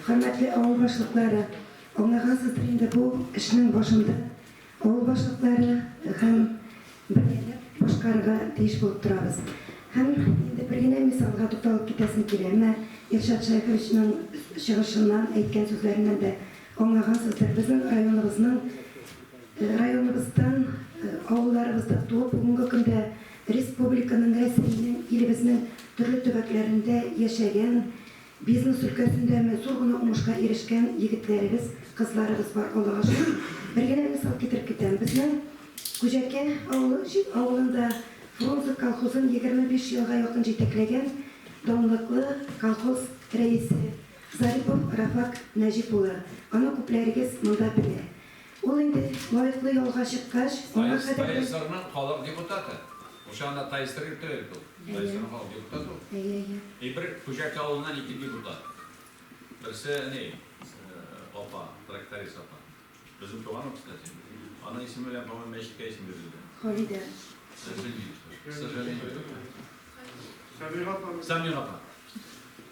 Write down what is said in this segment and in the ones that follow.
Хөрмәтле авыл башлыклары, аңлагансыздыр инде бу эшнең башында авыл башлыклары һәм бергәләп башкарырга тиеш булып торабыз. Һәм инде бер генә мисалга тукталып китәсем килә. Менә Илшат Шәеховичның чыгышыннан, әйткән сүзләреннән дә аңлагансыздыр, безнең районыбызның, районыбыздан, авылларыбызда туып, бүгенге көндә республиканың, Рәсәйнең, илебезнең төрле төбәкләрендә яшәгән, Бизнес өлкәсендә ме зур гына уңышка ирешкән егетләребез, кызларыбыз бар, Аллага шөкер. Бер генә мисал китереп китәм. Безнең Күҗәкә авылында Фрунзе колхозын егерме биш елга якын җитәкләгән данлыклы колхоз рәисе Зарипов Рафак Нәҗип улы, аны күпләрегез монда белә. Ул инде лаеклы ялга чыккач, аңа кадәр дә. Тайсырның халык депутаты. Ул чагында Тайсыр йорты бит ул. Тайсырның халык депутаты ул. Әйе, әйе. И бер Хуҗаки авылыннан ике депутат. Берсе әни, апа, тракторист апа. Безнең туган ул, кстати. Аның исеме белән, по-моему, мәчеткә исем бирелде. Халидә. К сожалению. Сәмига апа. Сәмига апа.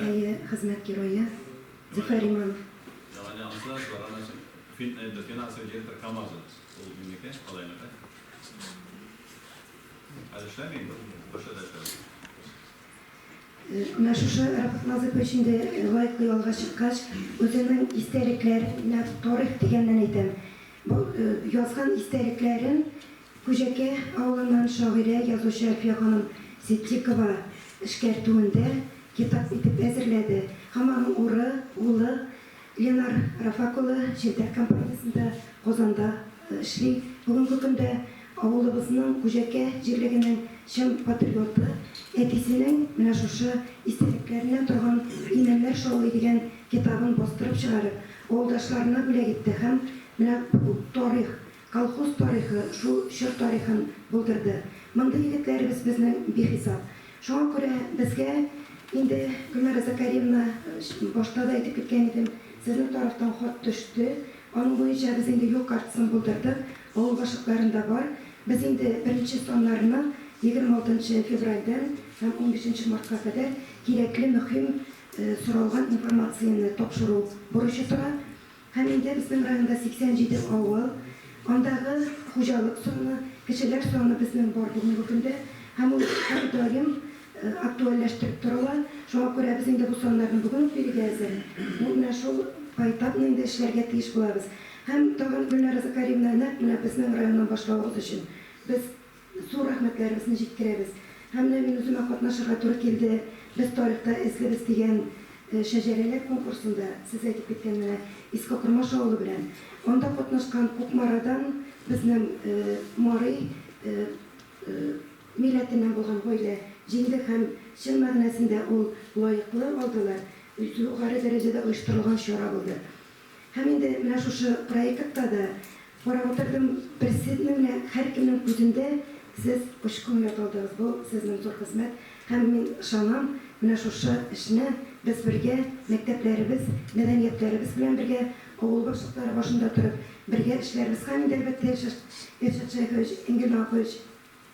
Әйе, хезмәт герое Зөфәр Иманов. Менә шушы Рәфыйк Назыйпов өчен дә лайклый алга чыккач, үзенең истәлекләре, менә тарих дигәннән әйтәм, бу язган истәлекләрен Күҗәкә авылыннан шагыйрә, язучы Әлфия ханым Ситдикова эшкәртүендә китап итеп әзерләде һәм аның уры, улы Ленар Рафак улы Челтәр компаниясендә Казанда эшли. Бүгенге көндә авылыбызның Күҗәкә җирлегенең чын патриоты, әтисенең менә шушы истәлекләреннән торган Имәннәр шаулый дигән китабын бастырып чыгарып, авылдашларына бүләк итте һәм менә бу тарих, Колхоз тарихы шул чор тарихын булдырды. Мондый егетләребез безнең бихисап. Шуңа күрә безгә инде, Гөлнара Закариевна, башта да әйтеп киткән идем, сезнең тарафтан хат төште. Аның буенча без инде юл картасын булдырдык, авыл башлыкларында бар. Без инде беренче саннарны 26 нчы февральдән һәм 15 нче мартка кадәр кирәкле мөһим соралган информацияне тапшыру бурычы тора. Һәм инде безнең районда 87 авыл, андагы хуҗалык саны, кешеләр саны безнең бар бүгенге көндә. Һәм ул һәр даим актуальләштереп торыла. Шуңа күрә без инде бу саннарны бүген үк бирергә әзер. Бу менә шул поэтапно инде эшләргә тиеш булабыз. Һәм тагын, Гөлнара Закарьевна, нәкъ менә безнең районнан башлавыгыз өчен без Зур рәхмәтләребезне җиткерәбез. Һәм менә мин үземә катнашырга туры килде, Без тарихта эзлебез дигән шәҗәрәләр конкурсында, сез әйтеп киткән менә Иске Кормаш авылы белән. Анда катнашкан Кукмарадан безнең Мари милләтеннән булган гаилә җиңде һәм чын мәгънәсендә ул лаеклы алдылар, югары дәрәҗәдә оештырылган чара булды. Һәм инде менә шушы проектта да карап утырдым, берсенең генә, һәркемнең күзендә сез очкынлы калдыгыз. Бу сезнең зур хезмәт. Һәм мин ышанам, менә шушы эшне без бергә, мәктәпләребез, мәдәниятләребез белән бергә, авыл башлыклары башында торып, бергә эшләрбез. Һәм инде, әлбәттә, Илшат Шәйхович, Энгель Нагапович,